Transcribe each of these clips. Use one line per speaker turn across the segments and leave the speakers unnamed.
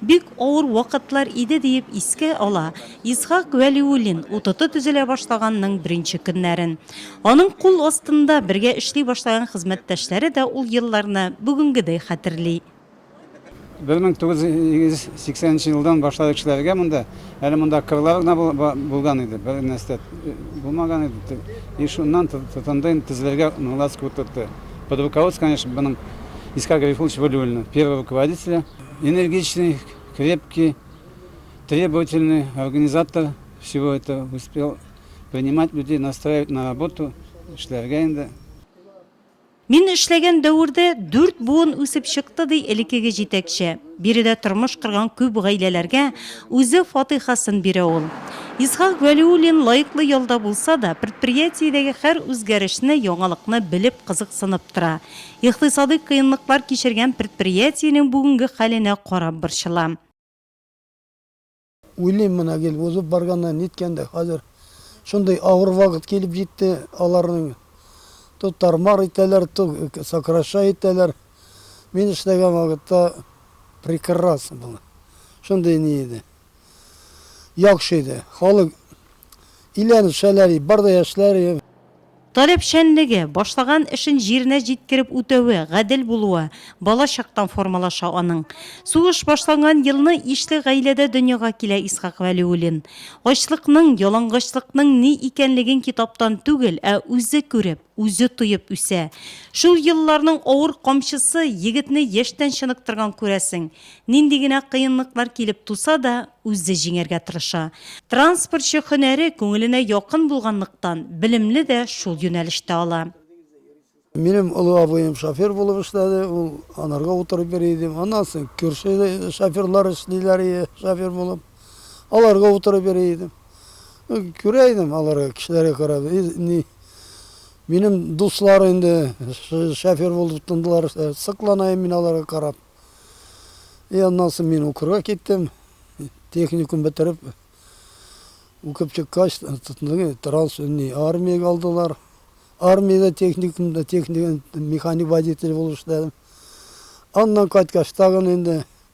Бик авыр вакытлар иде, диеп искә ала Исхак Вәлиуллин УТТ төзелә башлаганның беренче көннәрен. Аның кул астында бергә эшли башлаган хезмәттәшләре дә ул елларны бүгенгедәй хәтерли. 1980
нче елдан башлап эшләргә монда. Әле монда кырлар гына булган иде, бернәрсә дә булмаган иде. И шуннан тотынды инде төзелергә Норлатск УТТ. Под руководством, конечно, моның Исхак Гарифуллович Вәлиуллина, первый руководителе. энергичный, крепкий, требовательный организатор, всего это успел принимать людей, настраивать на работу, эшләргә инде.
Мин эшләгән дәвердә дүрт буын үсеп чыкты, ди элеккеге җитәкче. Биредә тормыш корган күп гаиләләргә үзе фатыйхасын бирә ул. Исхак Галиуллин лаеклы ялда булса да, предприятиедәге һәр үзгәрешне, яңалыкны белеп, кызыксынып тора. Икътисадый кыенлыклар кичергән предприятиенең бүгенге хәленә карап борчылам.
Уйлыйм менә гел, узып барганда ниткәндә, хәзер шундый авыр вакыт килеп җитте, аларның то тар-мар итәләр, то сокращай итәләр. Мин эшләгән вакытта прекрасно было, шундый ни иде. Яхшы иде. Халык иләр, шәләри, бар да яшьләр.
Таләпчәнлеге, башлаган эшен җиренә җиткереп үтәве, гадел булуы бала чактан формалаша аның. Сугыш башланган елны ишле гаиләдә дөньяга килә Исхак Вәлиуллин. Ачлыкның, ялангачлыкның ни икәнлеген китаптан түгел, ә үзе күреп, үзе туеп үсә. Шул елларның авыр камчысы егетне яшьтән чыныктырган күрәсең. Нинди генә кыенлыклар килеп туса да, үзе җиңәргә тырыша. Транспортчы һөнәре күңеленә якын булганлыктан, белемне дә шул юнәлештә ала. Минем
олы абыем шофер булып эшләде, ул анарга утырып йөри иде. Аннан соң күрше шоферлар эшлиләр иде шофер булып, аларга утырып йөри идем. Күрә идем аларга, кешеләргә карап. Минем дуслар инде шофер булып тотындылар. Сыкланайм мин аларга карап. И аннан соң мин укырга киттем. Техникум бетереп, укып чыккач, транс армиягә алдылар. Армиядә техникумда техник механик водитель булып эшләдем. Аннан кайткач, тагын инде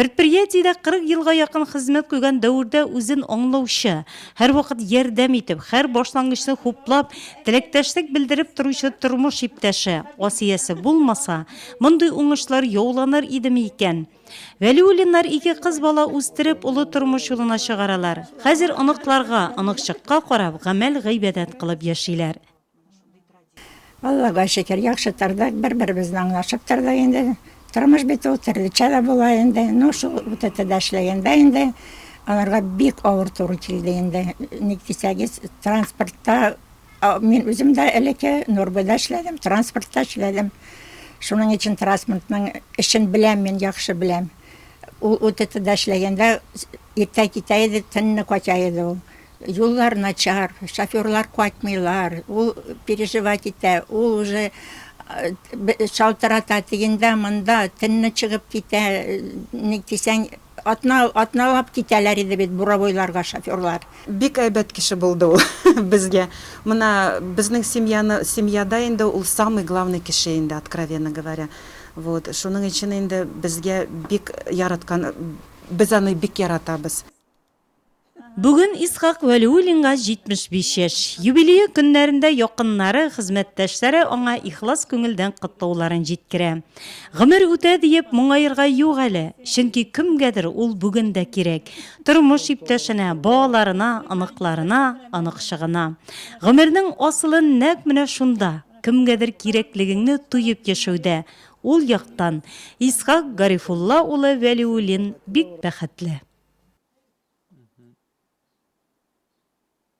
Предприятиедә
40 елга якын хезмәт куйган Дәүрдә үзен аңлаучы, һәрвакыт ярдәм итеп, хәр башлангычны хуплап, теләктәшлек белдереп торучы тормыш иптәше, Асиясе булмаса, мондый уңышлар яуланыр идеме икән? Вәлиуллиннар ике кыз бала үстереп, олы тормыш юлына чыгаралар. Хәзер оныкларга, оныкчыкка карап, гамәл-гыйбадәт кылып яшиләр. Аллага
шөкер, яхшы тордык, бер-беребезне аңлашып тордык инде. Тормыш бит ул, төрлечә дә була инде. Ну, шул УТТда эшләгәндә инде аларга бик авыр туры килде инде. Ник дисәгез, транспортта мин үзем дә элекке Нурбыда эшләдем, транспортта эшләдем. Шуның өчен транспортның эшен беләм мин, яхшы беләм. Ул УТТда эшләгәндә иртә китә иде, төнне кача иде ул. Юллар начар, шоферлар кайтмыйлар, ул переживать итә, ул уже шалтырата, тегендә-монда, төнне чыгып китә, ник дисәң, атна, атналап китәләр иде бит буровойларга шоферлар. Бик әйбәт кеше
булды ул безгә. Менә безнең семьяны, семьяда инде ул самый главный кеше инде, откровенно говоря. Вот, шуның өчен инде безгә бик яраткан, без аны бик яратабыз.
Бүген Исхак Вәлиуллинга 75 яшь. Юбилее көннәрендә якыннары, хезмәттәшләре аңа ихлас күңелдән котлауларын җиткерә. Гомер үтә диеп, моңаерга юк әле, чөнки кемгәдер ул бүген дә кирәк, тормыш иптәшенә, балаларына, оныкларына, оныкчыгына. Гомернең асылы нәкъ менә шунда, кемгәдер кирәклегеңне тоеп яшәүдә, Ул яктан, Исхак Гарифулла улы Вәлиуллин бик бәхетле.